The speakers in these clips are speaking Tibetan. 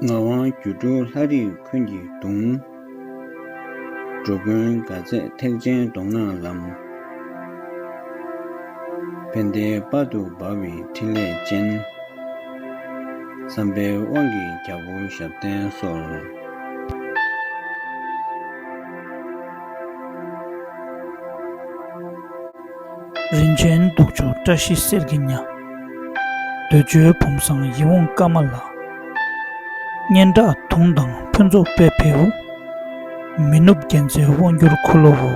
ངག་དབང་སྒྱུ་འཕྲུལ་ལྷ་རིགས་འཁོན་གྱི་གདུང། འགྲོ་མགོན་དགའ་མཛད་ཐེག་ཆེན་གདོང་ནག་ལམ། བན་དེའི་སྤར་དུ་འབར་བའི་ཕྲིན་ལས་ཅན། བསམ་པའི་དབང་གིས་རྒྱ་བོ་ཞབས་བརྟན་གསོལ། རིན་ཆེན་གདུགས་མཆོག་བཀྲ་ཤིས་གསེར་གྱི་ཉྭ། འདོད་འཇོའི་བུམ་བཟང་ཡིད་འོང་སྐར་མ་ལ། སྙན་གྲགས་དུང་དང་ཕུན་ཚོགས་དཔལ་བེའུ། མི་ནུབ་རྒྱལ་མཚན་དབང་བསྒྱུར་འཁོར་ལོའོ།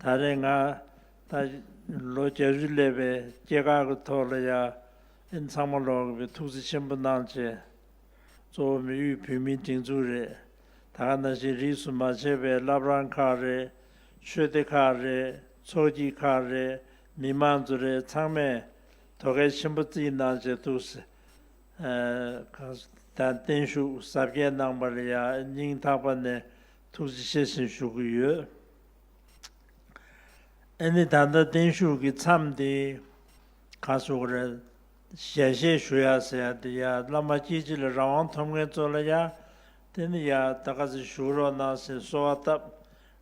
ད་རེས་ང་ད་ལོ་རྒྱ་རུ་སླེབས་པས་སྐྱེ་ཁག་གི་ཐོག་ལ་ཡ་ཨན་ཚང་མ་ལོག་གི་པའི་ཐུགས་རྩི་ཆེན་པོ་གནང་བྱས། གཙོ་བོ་མི་དབུས་བོད་མིའི་སྒྲིག་འཛུགས་རེད། ད་ག་ན་བཞིན་རིས་སུ་མ་ཆད་པའི་བླ་བྲང་ཁག་རེད། ཆོས་སྡེ་ཁག་རེད། ཚོགས་སྐྱིད་ཁག་རེད། མི་མང་ཚོ་རེད་ཚང་མས་དོ་སྐལ་ཆེན་པོ་རྩིས་གནང་བྱས་འདུག་ཟེར། གངས་ཅན་བསྟན་བཤུགས་གཟབ་རྒྱས་གནང་བར་ཡ་ཨན་སྙིང་ཐག་པ་ནས་ཐུགས་རྗེ་ཆེ་ཞེས་ཞུ་གི་ཡོད། ཨེ་ནི་ད་ལྟ་བརྟན་བཞུགས་ཀྱི་མཚམས་དེ་ག་སོ་ག་རེད། ཞལ་བཞེས་ཞུ་ཡ་ཟེར་ཡ་དེ་ཡ་བླ་མ་སྐྱིད་སྤྱི་ལ་རང་དབང་ཐོབ་མཁན་ཚོ་ལ་ཡ་དེ་ནི་ཡ་ད་ག་ཟེར་ཞུ་རོགས་གནང་ཟེར་གསོལ་བ་བཏབ།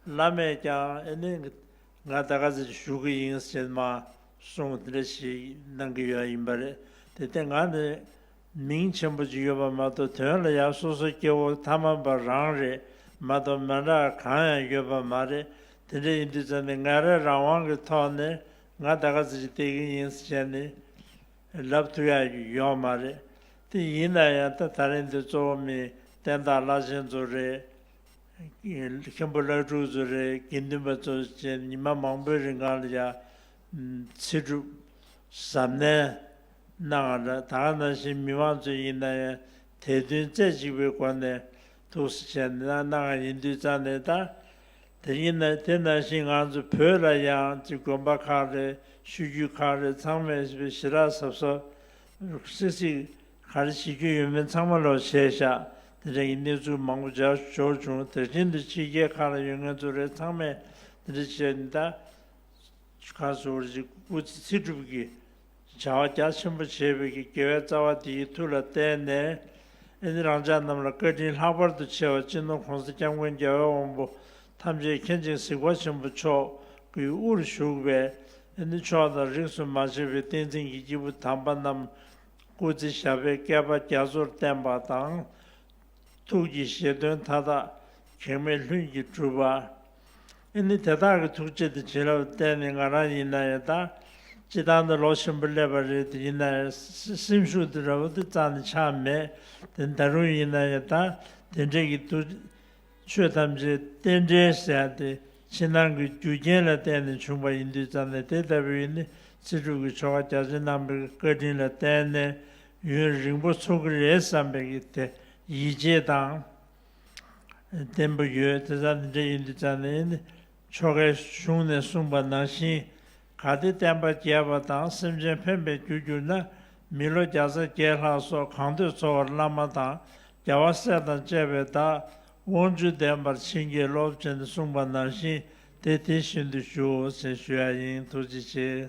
བླ་མས་ཀྱང་ཨེ་ནི་ང་ད་ག་ཟེར་ཞུ་གི་ཡིན་ཟེར་མ་སོང་དེ་འདྲ་ཞིག་གནང་གི་ཡོད་ཡིན་པ་རེད་དེ་སྟེ་ང་ནི་མིང་ཆེན་པོ་གཅིག་ཡོད་པ་མ་གཏོགས་དོན་ལ་ཡང་སོ་སོ་སྐྱེ་བོ་མཐའ་མ་པ་རང་རེད་མ་གཏོགས་མན་རག་གང་ཡང་ཡོད་པ་མ་རེད་དེ་འདྲ་ཡིན་དུས་ཙམ་ནས་ངས་རེ་རང་དབང་གི་ཐོག་ནས་ང་ད་ག་ཚོད་ཅིག་བལྟས་ཀྱི་ཡིན་བྱས་ནས་ལབ་ཐུབ་ཡ་ཡོད་མ་རེད་དེ་ཡིན་ན་ཡང་ད་ད་རིང་དུ་གཙོ་བོ་མི་བསྟན་བདག་བླ་ཆེན་ཚོ་རེད། མཁན་པོ་བླ་སྤྲུལ་ཚོ་རེད་དགེ་འདུན་པ་ཚོ་བཅས་ཉི་མ་མང་པོའི་རིང་གང་ལ་ཡང་ཚེ་སྒྲུབ། གཟབ་ནན། གནང་བ་འདྲ་དག་ནང་བཞིན་མི་མང་ཚོས་ཡིན་ན་ཡང་དད་འདུན་རྩེ་གཅིག་པའི་སྒོ་ནས་ཐུགས་སུ་བྱས་ནས་གནང་བ་ཡིན་དུས་རྩ་ནས་ད་དེ་ཡིན་ན་དེ་ནང་བཞིན་ང་ཚོ་བོད་ལ་ཡང་ཅི་དགོན་པ་ཁག་རེད་ཤུལ་རྒྱུད་ཁག་རེད་ཚང་མས་ཞི་རགས་གཟབ་གཟབ། སིག་སིག། ག་རེ་བྱེད་རྒྱུ་ཡོད་མེད་ཚང་མ་ལོག་བྱས་བཞག་དེ་འདྲ་ཡི་གནས་ཚུལ་མང་པོ་འཇགས་ཞོར་བྱུང་དེར་བཞིན་དུ་ཕྱི་རྒྱལ་ཁག་ལ་ཡོད་ངེད་ཚོ་རེད་ཚང་མས་དེ་འདྲ་བྱས་ནས་ད། ཁ་ཟུར་བར་གྱི་སྐུ་ཚེ་ཚེ་སྒྲུབ་ཀྱི་བྱ་བ་རྒྱ་ཆེན་པོ་བྱེད་པའི་ཀྱི་དགེ་བའི་རྩ་བ་དེའི་མཐུ་ལ་བརྟེན་ནས་ཨིནྡྲ་རང་ཅག་རྣམས་ལ་བཀའ་དྲིན་ལྷག་པར་དུ་ཆེ་བ་སྤྱི་ནོར་གོང་ས་སྐྱབས་མགོན་རྒྱལ་བའི་དབང་པོ་ཐམས་ཅད་མཁྱེན་ཅིང་གཟིགས་པ་ཆེན་པོ་མཆོག་གི་དབུར་བཞུགས་པའི་ཨིནྡྲ་མཆོག་དང་རིགས་སུ་མ་ཆད་པའི་བསྟན་འཛིན་གྱི་སྐྱེས་བུ་དམ་པ་རྣམས་སྐུ་ཚེ་ཞབས་པད་བསྐལ་པ་རྒྱ་མཚོར་བརྟན་པ་དང། ཐུགས་ཀྱི་བཞེད་དོན་མཐའ་དག་གེགས་མེད་ལྷུན་གྱིས་གྲུབ། ཨེ་ནི་དེ་དག་གི་ཐུགས་རྗེ་དེ་བྱིན་རླབས་བརྟན་ནི་ང་རང་ཡིན་ན་ཡང་ད་ཅི་ཐང་དུ་ལོག་བཞིན་པ་སླེབས་པ་རེད་ཡིན་ན་ཡང་སེམས་ཤུགས་དེ་ར་བ་དུ་གཙང་ནི་ཆགས་མེད་དེ་ད་རུང་ཡིན་ན་ཡང་ད་དེ་འདྲེ་གི་དུ། ཆོས་ཐམས་ཅད་རྟེན་འབྲེལ་ཟེར་ཡང་དེ་ཕྱི་ནང་གི་རྒྱུ་རྐྱེན་ལ་བརྟེན་ནས་བྱུང་པ་ཡིན་དུས་ཙམ་ནས་དེ་ལྟ་བུའི་ནི་ཚེ་སྒྲུབ་ཀྱི་ཆོ་ག་རྒྱ་ཆེན་རྣམ་པའི་བཀའ་དྲིན་ལ་བརྟེན་ནས་ཡུན་རིང་པོ་འཚོ་གི་རེད་བསམ་པའི་ཡིད་ཆེས་དང། བདེན་པོ་ཡོད་དེ་ཙམ་ནི་འདྲ་ཡིན་འདི་ཙམ་ནི་ཡིན། ཆོ་གའི་གཞུང་ནས་གསུངས་པ་ནང་བཞིན་ག་དེ་བསྟན་པ་རྒྱས་པ་དང་སེམས་ཅན་ཕན་པའི་རྒྱུ་གྱུར་ན་མི་ལོ་བརྒྱ་རྩ་བརྒྱད་ལྷག་སོགས་གང་འདོད་འཚོ་བར་བླ་མ་དང་རྒྱལ་བ་སྲས་དང་བཅས་པའི་བདག་དབང་ཚུལ་ལྡན་པར་བྱིན་གྱིས་རློབས་ཅན་གསུངས་པ་ནང་བཞིན་དེ་དེ་བཞིན་དུ་ཞུའོ་ཟེར་ཞུ་ཡ་ཡིན་ཐུགས་རྗེ་ཆེ།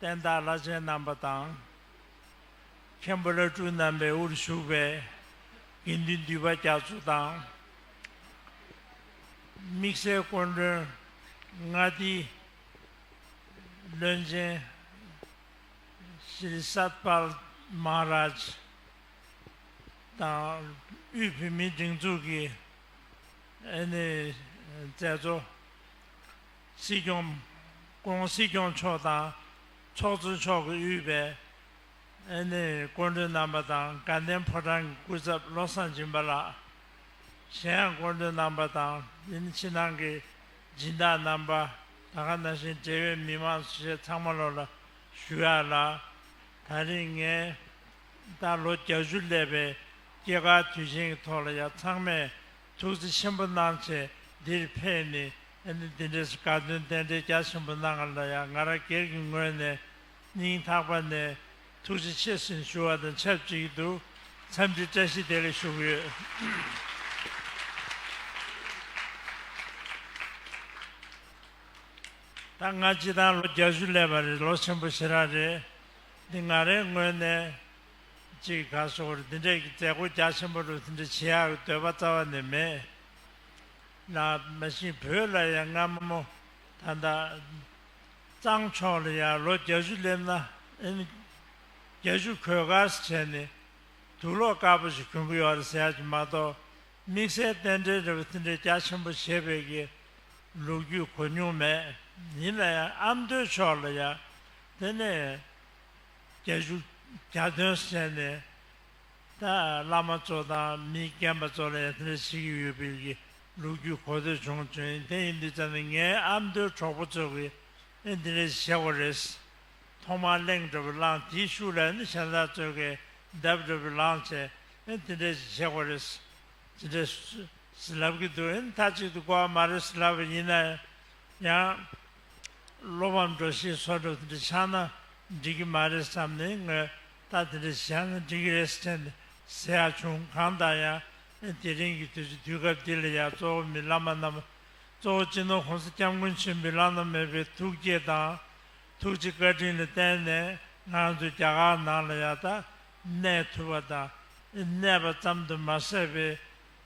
བསྟན་བདག་བླ་ཆེན་རྣམ་པ་དང། མཁན་པོ་བླ་སྤྲུལ་རྣམ་པའི་དབུར་བཞུགས་པའི་དགེ་འདུན་འདུས་པ་རྒྱ་མཚོ་དང། དམིགས་བསལ་སྐུ་མགྲོན་ལྔ་སྡེའི་བློན་ཆེན། Shri Satpal Maharaj། དང་དབུས་བོད་མིའི་སྒྲིག་འཛུགས་ཀྱི་མཛད་གཙོ། སྲིད་སྐྱོང། ྋགོང་སྲིད་སྐྱོང་མཆོག་དང་ཚོགས་གཙོ་མཆོག་གི་དབུས་པའི་ཨ་ནེ་སྐུ་མགྲོན་རྣམ་པ་དང་དགའ་ལྡན་ཕོ་བྲང་གི་སྐུ་ཚབ་བློ་བཟང་སྦྱིན་པ་ལགས། གཞན་ཡང་སྐུ་མགྲོན་རྣམ་པ་དང་འདི་ནི་ཕྱི་ནང་གི་སྦྱིན་བདག་རྣམ་པ། ད་ག་ན་བཞིན་འབྲེལ་ཡོད་མི་མང་སུ་བྱས་ཚང་མ་ལོ་ལ་ཞུ་ཡག་ལགས། ད་རིང་ངས་ད་ལོ་གྱ་བཞུ་སླེབས་པའི་སྐྱེས་སྐར་དུས་ཆེན་གྱི་ཐོག་ལ་ཡང་ཚང་མས་ཐུགས་རྗེ་ཆེན་པོ་སྣང་མཆེད་འདིར་ཕེབས་ནས་ཨནི་འདི་འདྲའི་དཀའ་སྟོན་རྟེན་འབྲེལ་རྒྱ་ཆེན་པོ་གནང་བ་ལ་ཡང་ང་རང་སྒེར་གྱི་ངོས་ནས་སྙིང་ཐག་པ་ནས་ཐུགས་རྗེ་ཆེ་ཞེས་ཞུ་བ་དང་ཆབས་ཅིག་ཏུ་འཚམས་འདྲི་བཀྲ་ཤིས་བདེ་ལེགས་ཞུ་གི་ཡོད། ད་ང་སྤྱི་བཏང་ལོ་བརྒྱད་ཅུ་སླེབས་པ་རེད་ལོ་ཆེན་པོ་ཞེ་དྲག་རེད། འདི་ང་རའི་ངོས་ནས། ཅིག་ག་སོགས་འདི་འདྲས་ཀྱི་མཛད་སྒོ་རྒྱ་ཆེན་པོ་རུ་འདི་འདྲ་བྱེད་ཡག་གི་འདོད་པ་རྩ་བ་ནས་མེད། ལ་མ་གཞི་བོད་ལ་ཡང་སྔ་མོ་ད་ལྟ་གཙང་མཆོག་ལ་ཡང་ལོ་བརྒྱ་བཅུ་སླེབས་ན་ཨེ་ན་བརྒྱ་བཅུ་གོས་དཀར་བྱས་ནས་དུག་ལོག་དཀར་པོ་ཞིག་གྱོན་གི་ཡོད་རེད་ཟེར་ཡག་གི་མ་གཏོགས་དམིགས་བསལ་རྟེན་འབྲེལ་རེ་བ་འདི་འདྲས་རྒྱ་ཆེན་པོ་བྱེད་པའི་གི་ལུགས་རྒྱུས་གོ་མྱོང་མེད། ཡིན་ལ་ཡང་ཨ་མདོའི་ཕྱོགས་ལ་ཡང་དེ་ནས་སྐད་བཞུགས་གྱ་སྟོན་གསན་ནས། བླ་མ་གཙོ་དང་མི་རྒན་པ་གཙོ་ལ་ཡར་ཐོན་ལས་བྱེད་ཀྱི་ཡོད་པའི་རིགས་ཀྱི་ལོ་རྒྱུས་གོ་ཐོས་བྱུང་དོན་ཡིན་དེ་ཡིན་དུས་ཙམ་ནས་ངའི་ཨ་མདོའི་གྲོགས་པོ་ཚོས་ཀྱིས་ཨེ་འདི་ལས་བྱེད་དགོས་རེད། ཐོག་མར་གླེང་འདྲ་བོ་བླངས་དེའི་ཤུགས་ལ་ནི་ཤ་ཚ་གཙོས་ཀྱིས་གདབ་འདྲ་བོ་ལངས་ཚེ་ཨེ་འདི་འདྲས་ཅིག་བྱེད་དགོས་རེད། ཅི་འདྲས་ཟེར་ལབ་ཀྱི་འདུག་ཨེ་མཐའ་གཅིག་ཏུ་གོ་བ་མ་རེད་ཟེར་ལབ་པ་ཡིན་ན་ཡང། སློབ་མ་འགྲོ་ཞིག་སོགས་སྒྲུབ་དེ་འདྲ་ཆགས་ན་འགྲིག་གི་མ་རེད་བསམ་ནས་ངོས་ལྟ་དེ་འདྲ་ཞིག་བྱས་ན་འགྲིག་གི་རེད་ཟེར་ནས་ཟེར་ཡག་བྱུང་གང་ལྟར་ཡང་དེ་རིང་གི་དུས་ཚོད་དུས་སྐབས་འདི་ལ་ཡང་གཙོ་བོ་མི་བླ་མ་རྣམས་གཙོ་བོ་སྤྱི་ནོར ྋགོང་ས ྋསྐྱབས་མགོན་ཆེན་པོའི་བླ་ན་མེད་པའི་ཐུགས་བསྐྱེད་དང་ཐུགས་རྗེ་བཀའ་དྲིན་ལ་བརྟེན་ནས་ང་ཚོ་རྒྱ་གར་ནང་ལ་ཡང་དག་གནས་ཐུབ་པ་དང་གནས་པ་ཙམ་དུ་མ་ཟད་པའི་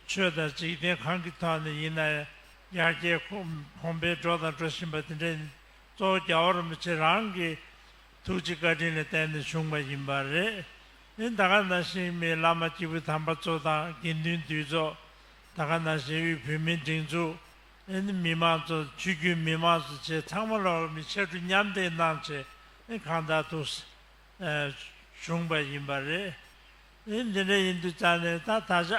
ཆོས་དང་འཇིག་རྟེན་གང་གི་ཐོག་ནས་ཡིན་ན་ཡང་རྒྱལ་ཁོངས་པས་འགྲོ་དང་འགྲོ་བཞིན་པ་དེ་འདྲས་ནི་གཙོ་བོ་རྒྱ་བོར་མི་བྱེད་རང་གི་ཐུགས་ཀྱི་བཀའ་དྲིན་ལ་བརྟེན་ནས་བྱུང་བ་ཡིན་པ་རེད། འདི་ད་ག་ན་ཞིག་མི་བླ་མ་སྐྱེས་བུ་དམ་པ་གཙོ་དང་དགེ་འདུན་འདུས་གཙོ། ད་ག་ན་ཞིག་དབུས་བོད་མིའི་སྒྲིག་འཛུགས། ཨེ་ནི་མི་མང་གཙོ་ཆོས་བརྒྱུད་མི་མང་གཙོ་བཅས་ཚང་མ་ལ་བར་མི་ཆ་འཕྲུལ་མཉམ་འདེགས་གནང་ཆེད་ཨེ་གང་དག་ཐུགས་བྱུང་བ་ཡིན་པ་རེད། ཨེ་འདི་འདྲ་ཡིན་དུས་ཙང་ནས་ད་ད་ཆ་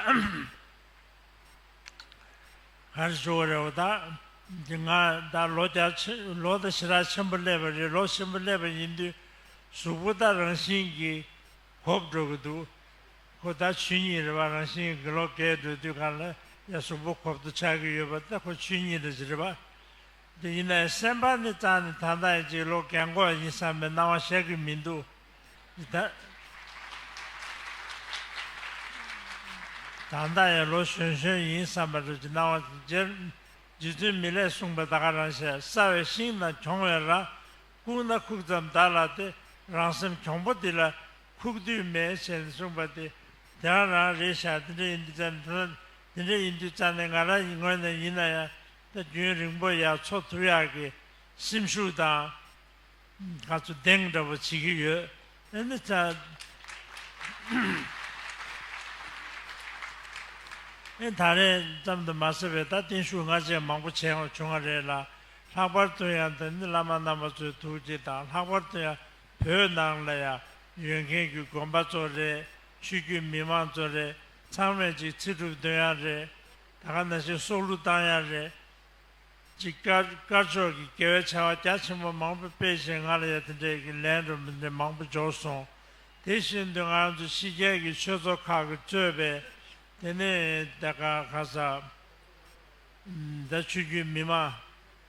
གར་བཞུགས་བ་རེད་བ་ད་འདི་ང་ད་ལོ་བརྒྱ་ཕྱི་ལོ་ད་ཕྱི་རག་ཆེན་པོ་སླེབས་པ་རེད་ལོ་ཆེན་པོ་སླེབས་པ་ཡིན་དུས་གཟུགས་པོ་ད་རང་བཞིན་གྱི་གོབ་འགྲོ་གི་འདུག་ཁོ་ད་ཆུ་གཉིས་རེད་བ་རང་བཞིན་གི་ལོ་འགས་འགྲོ་དུས་གང་ལ་ཡ་གཟུགས་པོ་གོབ་ཏུ་ཆགས་ཀྱི་ཡོད་པ་ད་ཁོ་ཆུ་གཉིས་རེད་ཟེར་བ་འདི་ཡིན་ནའི་སེམས་པ་ནི་ཙང་ནས་ད་ལྟ་ཡིན་ཅིག་ལོ་འགས་འགོ་བ་ཡིན་བསམ་པའི་སྣང་བ་ཤར་གྱི་མི་འདུག། ད་ལྟ་ཡང་ལོ་གཞོན་གཞོན་ཡིན་བསམ་པ་རེད་ཅེས་སྣང་བ་སྦྱར། རྗེ་བཙུན་མི་ལས་གསུངས་པའི་བདག་ག་རང་བྱས་བསགས་བའི་ཤིང་དང་གྱོང་བའི་ར། ཁུག་སྣ་ཁུག་ཙམ་བདག་ལ་སྟེ་རང་སེམས་གྱོང་པོ་འདི་ལ། ཁུག་དུས་མེད་བྱས་ནས་གསུངས་པ་དེ། དེ་རང་རང་རེད་བཞག་དེ་འདྲ་ཡིན་དུས་རྩ་ནས་དེ་འདྲ་དེ་འདྲ་ཡིན་དུས་རྩ་ནས་ང་རང་ཡི་ངོས་ནས་ཡིན་ན་ཡང། ད་རྒྱུན་རིང་པོ་ཡར་འཚོ་ཐུབ་ཡག་གི་སེམས་ཤུགས་དང། དགའ་ཚོ་གདེང་འདྲ་པོ་བྱེད་ཀྱི་ཡོད། ད་རེས་ཙམ་དུ་མ་ཟེར་བས་ད་བརྟན་བཞུགས་སྔ་རྗེས་མང་པོ་བྱས་འོང་བྱུང་བ་རེད་ལ། ལྷག་པར་དུ་ཡང་དེ་ནི་བླ་མ་རྣམ་པ་ཚོའི་ཐུགས་བསྐྱེད་དང་ལྷག་པར་དུ་ཡང་བོད་ནང་ལ་ཡང་ཡོད་མཁན་གྱི་དགོན་པ་ཚོ་རེད། ཆོས་བརྒྱུད་མི་མང་ཚོ་རེད། ཚང་མས་ཅིག་ཚིག་གྲུབ་འདོན་ཡང་རེད། ད་ག་ན་བཞིན་སྲོག་བླུ་བཏང་ཡང་རེད། གཅིག་དཀར་ཕྱོགས་ཀྱི་དགེ་བའི་བྱ་བ་རྒྱ་ཆེན་པོ་མང་པོ་སྤེལ་བཞིན་ང་ལ་ཡ་དེ་འདྲས་ཀྱི་ལན་རུ་མི་འདི་མང་པོ་འབྱོར་སོང། དེ་བཞིན་དུ་ང་རང་ཚོ་ཕྱི་རྒྱལ་གྱི་ཆོས་ཚོགས་ཁག་གི་གཙོས་པའི་དེ་ནས་དེ་ག་ག་ས་ད་ཆོས་རྒྱུད་མི་མང་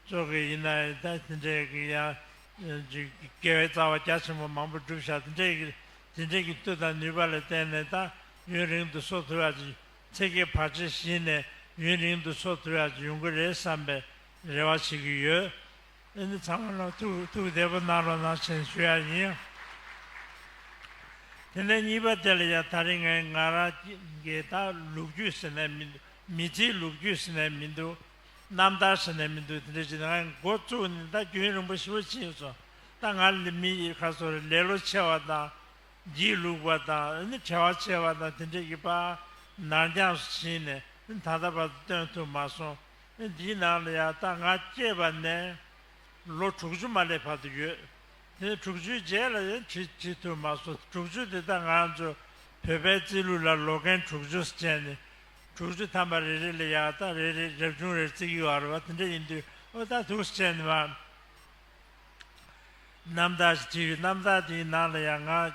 ཚོ་གི་ཡིན་ན་ཡང་ད་དེ་འདྲས་ཀྱི་ཡ་ཇི་དགེ་བའི་རྩ་བ་རྒྱ་ཆེན་པོ་མང་པོ་བསྒྲུབ་བཞག་དེ་འདྲས་ཀྱི་དེ་འདྲས་ཀྱི་བསྟོད་དང་ནུས་པ་ལ་བརྟེན་ནས་ད་ཡུན་རིང་དུ་སྲོག་ཐུ་བ་ཅིག་ཚེ་གེ་བར་ཆད་ཞི་ནས་ཡུན་རིང་དུ་ཆོ་འཕྲུལ་ཡག་ཡོང་གི་རེད་བསམ་པའི་རེ་བ་བྱེད་ཀྱི་ཡོད། ཨེ་ནི་ཚང་མ་ལ་ཐུགས་ཐུགས་བདེ་པོ་གནང་རོགས་གནང་བཞིན་ཞུ་ཡག་ཡིན། དེ་ནས་གཉིས་པ་དེ་ལ་ཡང་ད་རིང་ངས་ང་རང་གི་ད་ལུག་རྒྱུད་ཟེར་ནས་མི་འདུག་མི་ཚེའི་ལུག་རྒྱུད་ཟེར་ནས་མི་འདུག་རྣམ་ཐར་ཟེར་ནས་མི་འདུག་དེ་འདྲ་བྱས་ནས་ང་འགོ་བཙུགས་ནས་ད་རྒྱུན་རིང་པོ་ཞི་བ་ཕྱིན་སོང་ད་ང་ལ་མི་ཁ་སོང་རེད་ལེ་ལོ་ཆེ་བ་དང། སྒྱིད་ལུག་པ་དང་བྲལ་བར་བྱས་པ་དང་དེ་འབྲེལ་གྱི་པརྣར་འགྱངས་སུ་ཕྱིན་ནས་ད་ལྟ་བར་དུ་སྟོན་ཐུབ་མ་སོང། འདིའི་ནང་ལ་ཡང་ད་ང་སྐྱེས་པ་ནས་ལོ་དྲུག་ཅུ་མ་སླེབས་བར་དུ་ཡོད། དེ་དྲུག་ཅུའི་རྗེས་ལ་ཡང་བྲིས་བྲིས་ཐུབ་མ་སོང་དྲུག་ཅུ་དེ་དག་ང་ཚོ་བོད་པའི་རྩིས་ལུགས་ལ་ལོ་རྒན་དྲུག་ཅུ་ཟེར་མཁན་ནི་དྲུག་ཅུ་ཐམ་པ་རེ་རེ་ལ་ཡང་ད་རེ་རེ་རབ་བྱུང་རེར་བརྩི་གི་ཡོད་རེད་བ་དེ་འདྲ་ཡིན་དུས་འོ་ད་དུག་ཟེར་མཁན་ནི་མ་རྣམ་དག་ཞེས་བྲིས་པའི་རྣམ་དག་དེའི་ནང་ལ་ཡང་ང་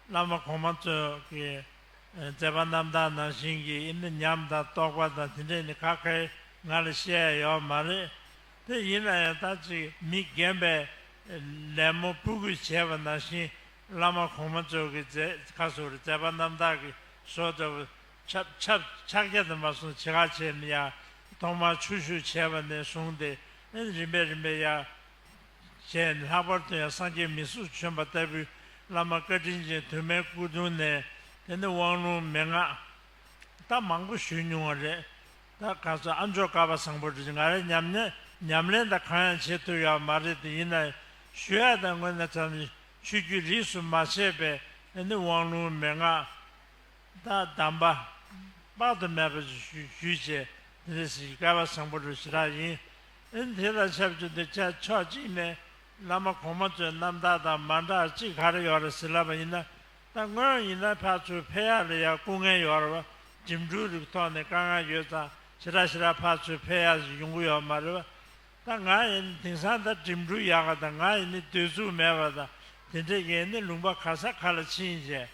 བླ་མ་གོང་མ་ཚོས་ཀྱི་མཛད་པ་རྣམ་དག་ནང་བཞིན་གྱི་ཡིན་ན་ཉམས་དང་རྟོགས་པ་དང་དེ་འདྲས་ནི་ཁ་ཁ་ང་ལ་བཤད་ཡ་ཡོད་མ་རེད་དེ་ཡིན་ན་ཡང་ད་ཅིག་མི་རྒན་པས་ལད་མོ་སྤུ་གུས་བྱས་པ་ནང་བཞིན་བླ་མ་གོང་མ་ཚོས་ཀྱི་མཛད་ཁ་སོ་རུ་མཛད་པ་རྣམ་དག་གི་སོ་ཏོ་ཕྱག་རྒྱ་དུ་མ་སོང་ཇི་ག་བྱས་ནས་ཡང་ཐོག་མར་ཆུ་བཞུར་བྱས་པ་ནས་བཟུང་སྟེ་རིམ་པས་རིམ་པས་ཡར་བྱས། ལྷག་པར་དུ་ཡང་སངས་རྒྱས་མི་གཟུགས་བྱོན་པ་ལྟ་བུའི་བླ་མ་བཀའ་དྲིན་ཅན་དུ་མའི་སྐུ་གདུང་ནས་དེ་ནི་དབང་ལུང་མན་ངག་ད་མང་པོ་ཞུས་མྱོང་བ་རེད་ད་ག་ཚོད་ཨ་མཆོག་ཀ་བ་བཟང་པོ་འདྲི་ང་རེ་ཉམས་ནས་ཉམས་ལེན་ད་གང་ཡང་བྱེད་ཐུབ་ཡག་མ་རེད་དེ་ཡིན་ན་ཞུ་ཡག་ད་དངོས་གནས་ཚང་ནི་ཆོས་རྒྱུད་རིས་སུ་མ་ཆད་པའི་དེ་ནི་དབང་ལུང་མན་ངག། བདག་བདམས་པ། དཔག་ཏུ་མེད་པ་ཞིག་ཞུ་ཞུ་བྱས། དེ་ནས་སྲིད་ཞིའི་སྐལ་བ་བཟང་པོ་རུ་ཞི་དྲག་ཡིན། ཨིན། དེ་ལ་ཆབ་ཆུ་འདི་ཆ་ཆོག་གཅིག་མེད། བླ་མ་གོང་མ་ཚོའི་རྣམ་ཐར་དང་མ་འདྲ་གཅིག་ག་རེ་ཡོད་རེད་ཟེར་ལབ་པ་ཡིན། ད་སྔོན་ཡིན་ན་ཕག་ཚུལ་ཕལ་ཡག་ལས་ཡག་སྐུ་ངལ་ཡོད་རེད། འགྲིམ་འགྲུལ་རིགས་ཐོག་ནས་དཀའ་ངལ་ཡོད་ཙང་ཞི་དྲག་ཞི་དྲག་ཕག་ཚུལ་ཕལ་ཡག་ཞིག་ཡོང་གི་ཡོད་མ་རེད། ད་ང་ཡིན་ནི་དེང་སང་ད་འགྲིམ་འགྲུལ་ཡག་ག་དང་ང་ཡིན་ནི་སྡོད་ཚུགས་མེད་པ་དང་དེ་འདྲའི་ཡིན་ནི་ལུང་པ་ག་ས་ག་ལ་ཕྱིན་བྱས།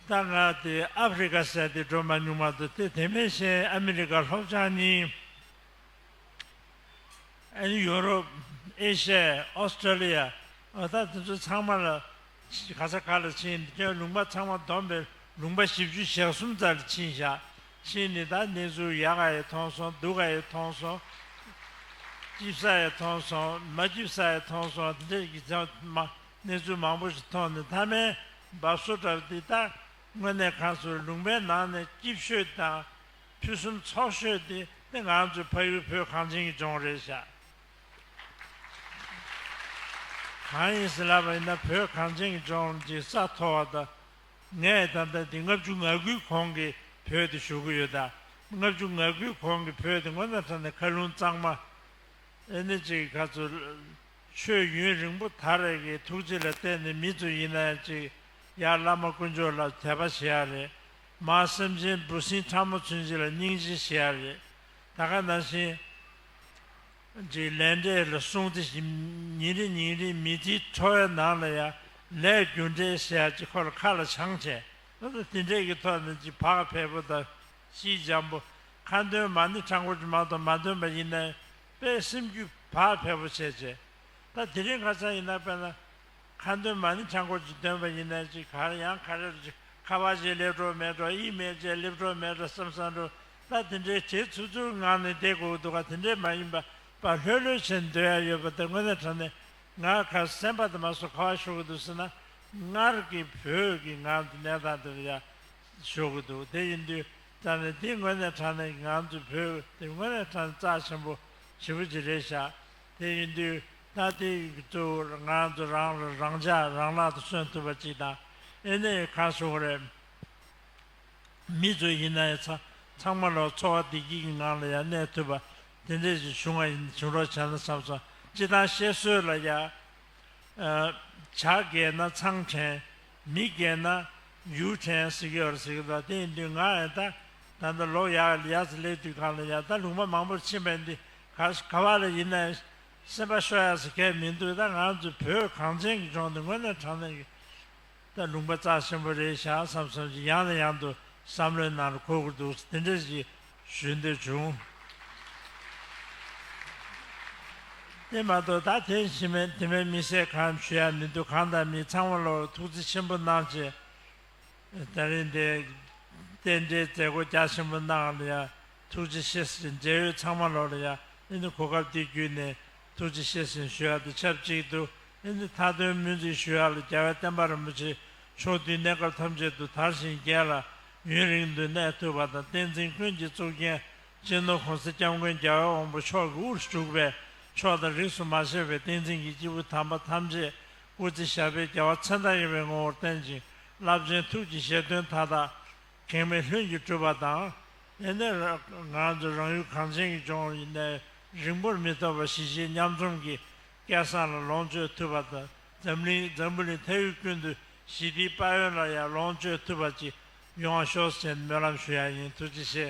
ད་ང་དེ་ཨ་ཕི་རི་ཀ་སད་དེ་སྒྲོལ་མ་སྨྱུག་མ་དུ་དེ་དེ་མེ་ཤེན་ཨ་མི་རི་ཀ་ལྷོ་བྱང་གཉིས་ཨ་ནི་ཡོ་རོབ་ཨེ་ཤ་ཡ་ཨོས་ཏྲེ་ལི་ཡ་ཨོ་ད་དེ་ཚོ་ཚང་མ་ལ་ག་ས་ག་ལ་ཕྱིན་དེ་ཁྱོད་ལུང་པ་ཚང་མ་བསྡོམས་པས་ལུང་པ་བཞི་བཅུ་ཞག་གསུམ་ཙ་ལ་ཕྱིན་བཞག་ཕྱིན་ནི་ད་ནེ་ཟུ་ཡ་ག་ཡེ་ཐོང་སོང་སྡུ་ག་ཡེ་ཐོང་སོང་སྐྱིབས་ས་ཡེ་ཐོང་སོང་མ་སྐྱིབས་ས་ཡེ་ཐོང་སོང་དེ་འདྲ་ཡི་ཚང་མ་གནས་ཚུལ་མང་པོ་ཞིག་མཐོང་ནས་མཐའ་མའི་འབབ་སོ་གྲབས་འདི་ལྟར་དངོས་གནས་ཁ་མཆུ་ལུང་པའི་ནང་ནས་སྐྱིབས་ཤོད་དང་ཕུན་སུམ་ཚོགས་ཤོད་དེ་ནི་ང་ཚོའི་ཕ་ཡུལ་བོད་གངས་ཅན་གྱི་ལྗོངས་རེད་བཞག་གང་ཡིན་ཟེར་ལབ་པ་ཡིན་ན་བོད་གངས་ཅན་གྱི་ལྗོངས་ཀྱི་ས་མཐོ་བ་དང། ངས་ད་ལྟ་འདི་ལྔ་བཅུ་ང་དགུའི་གོང་གི་བོད་དུ་བཞུགས་ཀྱི་ཡོད། ལྔ་བཅུ་ང་དགུའི་གོང་གི་བོད་དེ་སྔོན་མ་ཚང་ནས་མཁའ་རླུང་གཙང་མ། ཨེ་ནི་ཅི་གི་ཁ་མཆུ། ཆོས་ཡུན་རིང་པོ་ད་རེས་ཀྱི་ཐུགས་རྗེ་ལ་བརྟེན་ནས་མི་ཚོས་ཡིན་ན་ཡང་ཅིག་ཡར་བླ་མ་དཀོན་མཆོག་ལ་དད་པ་བྱེད་ཡག་རེད་མ་སེམས་ཅན་འབུ་སྲིན་ཕྲ་མོ་ཚུན་ཅིག་ལ་སྙིང་རྗེ་བྱེད་ཡག་རེད་ད་ག་ན་བཞིན་ཅིག་ལས་འབྲས་ལ་སྲུང་སྟེ་ཞིམ་ཉིན་རིང་ཉིན་རིང་མི་དེའི་ཁྲོ་བའི་ནང་ལ་ཡང་ལས་རྒྱུ་འབྲས་བྱེད་ཡག་ཅིག་ཁོ་ལ་ཁ་ལ་ཆང་བྱས་ད་ལྟ་དེ་འདྲས་ཀྱི་ཐོག་ནས་ཅིག་བག་ཕེབས་པོ་དང་ཤིས་འཇམ་པོ་ཁ་འདོན་མ་ནི་ཁྲ་མགོ་ཅི་མང་དུ་མ་འདོན་པ་ཡིན་ན་ཡང། པས་སེམས་རྒྱུད་བག་ཕེབས་པོ་བྱེད་ཅེས། ད་དེ་རིང་ཁ་ཚང་ཡིན་ན་དཔེར་ན། ཁ་འདོན་མ་ནི་ཆང་ཁོག་ཅིག་འདོན་པ་ཡིན་ན་ཅིག་གར་ཡང་གར་རེར་ཅིག་ཁ་བ་ཅིག་ལེགས་འགྲོ་མེད་འགྲོ་ཡིད་མེད་ཅིག་སླེབས་འགྲོ་མེད་འགྲོ་བསམ་བསམ་འགྲོ་ད་དེ་འདྲའི་བྱེད་ཚུལ་ཚུར་ངག་ནས་བསྡད་དགོས་ཀྱི་འདུག་ག་དེ་འདྲའི་མ་ཡིན་པ་པ་ལྷོད་ལྷོད་བྱེད་འདོད་ཡ་ཡོད་པ་དེ་དངོས་གནས་དྲན་ནས་ངག་ཁར་སེམས་པ་དེ་མ་སོ་ཁ་བ་ཤོར་གྱི་འདུག་ཟེར་ན་སྔར་གྱི་བོད་ཀྱི་ངག་འདི་གནས་སྟངས་འདི་འདྲ་ཡ་ཞུ་གི་འདུག་དེ་ཡིན་དུས་རྩ་ནས་དེ་དངོས་གནས་དྲང་གནས་ང་ཚོའི་བོད་དེ་དངོས་གནས་དྲང་གནས་རྩ་ཆེན་པོ་ཞེ་པོ་ཅིག་རེད་ཤག་དེ་ཡིན་དུས་ད་ལྟའི་གཙོ་བོར་ང་ཚོ་རང་རེ་རང་ཅག་རང་ལག་ཏུ་སོན་ཐུབ་པ་ཅིག་དང་ཨེ་ནས་ཡོད་ཁ་ཤོ་གོ་རེད། མི་ཚོ་ཡིན་ན་ཡང་ཚང་མ་ལོག་འཚོ་བ་བདེ་སྐྱིད་ཀྱི་ངང་ལ་ཡང་གནས་ཐུབ་པ་དེ་འདྲས་ཅིག་བྱུང་བ་ཡིན་བྱུང་རོགས་བྱས་ན་བསམ་སོང་སྤྱི་བཏང་བཤད་སྲོལ་ལ་ཡང། བྱ་རྒས་ན་ཚང་དྲན། མི་རྒན་ན་འཇུག་ཁྲན་སི་གི་ཨོར་སི་གི་ད་དེ་ཡིན་དུས་ང་ཨེ་ད་ད་ད་ལོག་ཡ་ཡ་ལི་ཡ་ཚི་ལེ་དུས་གང་ལ་ཡ་ད་ལུང་པ་མང་པོར་ཕྱིན་པའི་འདི་ག་ས་ག་བ་ལ་ཡིན་ནའི་སེམས་པ་ཤོ་ཡ་ས་གས་མིན་འདུག་ད་ང་ཚོའི་བོད་གངས་ཅན་གི་ལྗོངས་འདི་དངོས་གནས་དྲང་གནས་ཀྱི་ད་ལུང་པ་རྩ་ཆེན་པོ་རེད་ཤག་བསམ་བསམ་ཅིག་ཡང་ནས་ཡང་དུ་བསམ་བློའི་ནང་ལ་འཁོར་དགོས་འདུག་དེ་འདྲ་ཞིག་ཞུས་འདོད་བྱུང། དེ་མ་གཏོགས་ད་ཐེངས་ཕྱི་མའི་དེ་མའི་མི་བསད་ཁམས་ཞུ་ཡ་མི་འདུག་གང་ལྟར་མི་ཚང་མ་ལོ་ཐུགས་རྩི་ཆེན་པོ་གནང་ཆེ། ད་རིང་འདི། རྟེན་འབྲེལ་མཛད་སྒོ་རྒྱ་ཆེན་པོ་གནང་ལ་ཡ་ཐུགས་རྗེ་ཆེ་ཟེར་ཅིང་འབྲེལ་ཡོད་ཚང་མ་ལོ་ལ་ཡ་ཨེ་ནི་གོ་སྐབས་འདི་བརྒྱུད་ནས་ཐུགས་རྗེ་ཆེ་ཟེར་ཞུ་ཡ་དང་ཆབས་ཅིག་ཏུ་ཨེ་ནི་མཐའ་དོན་སྨོན་ཚིག་ཞུ་ཡ་ལ་རྒྱལ་བའི་བསྟན་པ་རིན་པོ་ཆེ་མཆོག་དུས་གནས་སྐབས་ཐམས་ཅད་དུ་དར་ཞིང་རྒྱས་ལ་ཡུན་རིང་མདུན་གནས་བསྟོད་པ་དང་བསྟན་འཛིན་ཀུན་གྱི་གཙུག་རྒྱན་གཅེས་ནོར་གོང་གསལ་སྐྱབས་མགོན་རྒྱལ་བ་དབང་པོ་མཆོག་གི་དབུར་བཞུགས་པས་ཕྱོགས་དང་རིགས་སུ་མ་ཆད་པའི་བསྟན་འཛིན་གྱི་སྐྱེས་བུ་དམ་པ་ཐམས་ཅད་སྐུ་ཚེ་ཞབས་པད་རྒྱ་བ་ཚེ་མདངས་ཡངས་པའི་ངོ་བོར་བརྟན་ཅིང་རླབས་ཆེན་ཐུགས་ཀྱི་བཞེད་དོན་མཐའ་དག་གེགས་མེད་ལྷུན་གྱིས་གྲུབ་པ་དང། དེ་ནས་ང་ཚོས་རང་ཡུལ་གངས་ཅན་གྱི་ལྗོངས་ནས་རིང་པོར་མི་ཐོགས་པར་གཞིས་བྱེས་མཉམ་འཛོམས་ཀྱི་སྐལ་བཟང་ལ་ལོངས་སྤྱོད་ཐུབ་པ་དང་འཛམ་གླིང་འཛམ་བུ་ནས་ཐལ་ཡུལ་ཀུན་ཏུ་ཞི་བདེའི་དཔལ་ཡོན་ལ་ཡང་ལོངས་སྤྱོད་ཐུབ་པ་ཅིག་ཡོང་ཤོག་ཟེར་ནས་སྨོན་ལམ་ཞུ་ཡག་ཡིན་ཐུགས་རྗེ་ཆེ།